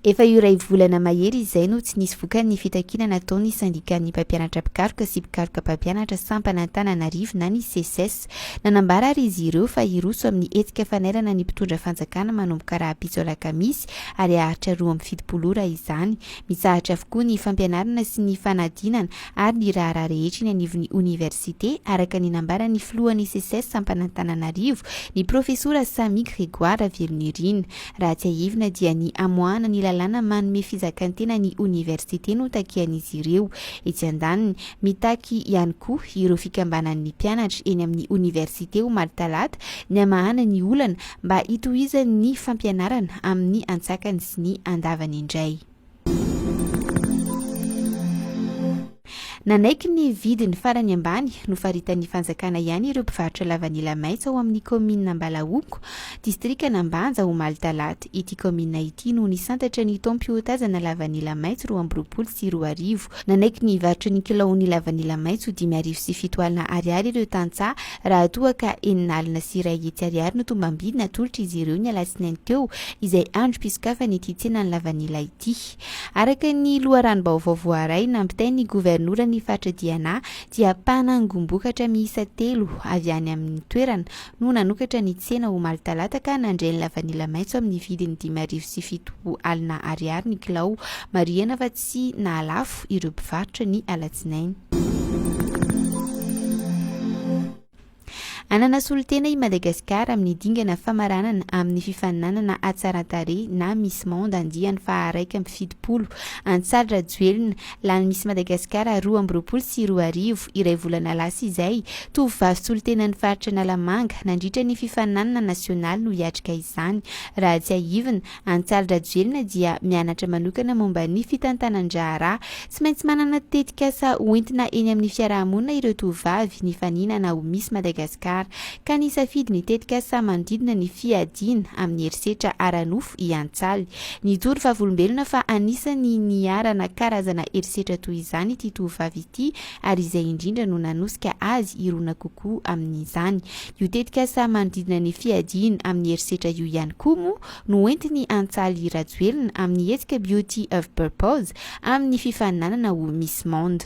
Efa iray volana mahery izay no tsy nisy vokany ny fitakiana nataon'ny sendikàn'ny mpampianatra mpikaroka sy mpikaroka mpampianatra sampan'Antananarivo na ny Seces. Nanambara ary izy ireo fa hiroso amin'ny hetsika fanairana ny mpitondra fanjakana manomboka rahampitso alakamisy ary haharitra roa amby fitopolo ora izany. Mitsahatra avokoa ny fampianarana sy ny fanadinana ary ny raharaha rehetra eny anivon'ny oniversite, araka ny nambaran'ny filohan'ny Seces sampan'Antananarivo, ny profesora Samy Grégoire Ravelonirina. Raha tsiahivina dia ny hamoahana ny lalàna manome fizakan-tena ny oniversite no takian'izy ireo. Etsy andaniny, mitaky ihany koa ireo fikambanan'ny mpianatra eny amin'ny oniversite omaly talata ny hamahana ny olana mba hitohizan'ny fampianarana amin'ny antsakany sy ny andavany indray. Nanaiky ny vidiny farany ambany nofaritan'ny fanjakana ihany ireo mpivarotra lavanila maitso ao amin'ny kaominina Ambalahoko, distrikan'Ambanja, omaly talata. Ity kaominina ity no nisantatra ny taom-piotazana lavanila maitso roa amby roapolo sy roa arivo. Iavoloha. Nanaiky ny hivarotra ny kilaon'ny lavanila maitso dimy arivo sy fito alina ariary ireo tantsaha raha toa ka enina alina sy iray hetsy ariary no tombam-bidy natolotra izy ireo ny alatsinainy teo izay androm-pisokafana ity tsenan'ny lavanila ity. Araka ny loharanom-baovao voaray nampitain'ny governoran'ny faritra Diana dia mpanangom-bokatra miisa telo avy any amin'ny toerana no nanokatra ny tsena omaly talata ka nandray ny lavanila maitso amin'ny vidiny dimy arivo sy fito alina ariary ny kilao marihana fa sy nahalafo ireo mpivarotra ny alatsinainy. Hanana solontena i Madagasikara amin'ny dingana famaranana amin'ny fifaninanana hatsaran-tarehy na Miss Monde andiany faha-iraika amby fitopolo, Antsaly Rajoelina, lany Miss Madagasikara roa amby roapolo sy roa arivo, iray volana lasa izay. Tovovavy solontenan'ny faritra Analamanga nandritra ny fifaninanana nasionaly no hiatrika izany, raha tsiahivina, Antsahal-drajoelina dia mianatra manokana momba ny fitantanan-draharaha. Tsy maintsy manana tetikasa hoentina eny amin'ny fiarahamonina ireo tovovavy nifaninana ho Miss Madagascar, ka nisafidy ny tetikasa manodidina ny fiadiana amin'ny herisetra ara-nofo i Antsaly. Nijoro vavolombelona fa anisan'ny niharana karazana herisetra toy izany ity tovovavy ity, ary izay indrindra no nanosika azy hirona kokoa amin'izany. Io tetikasa manodidina ny fiadiana amin'ny herisetra io ihany koa moa no hoentiny Antsaly Rajoelina amin'ny hetsika Beauty of Purpose amin'ny fifaninanana ho Miss Monde.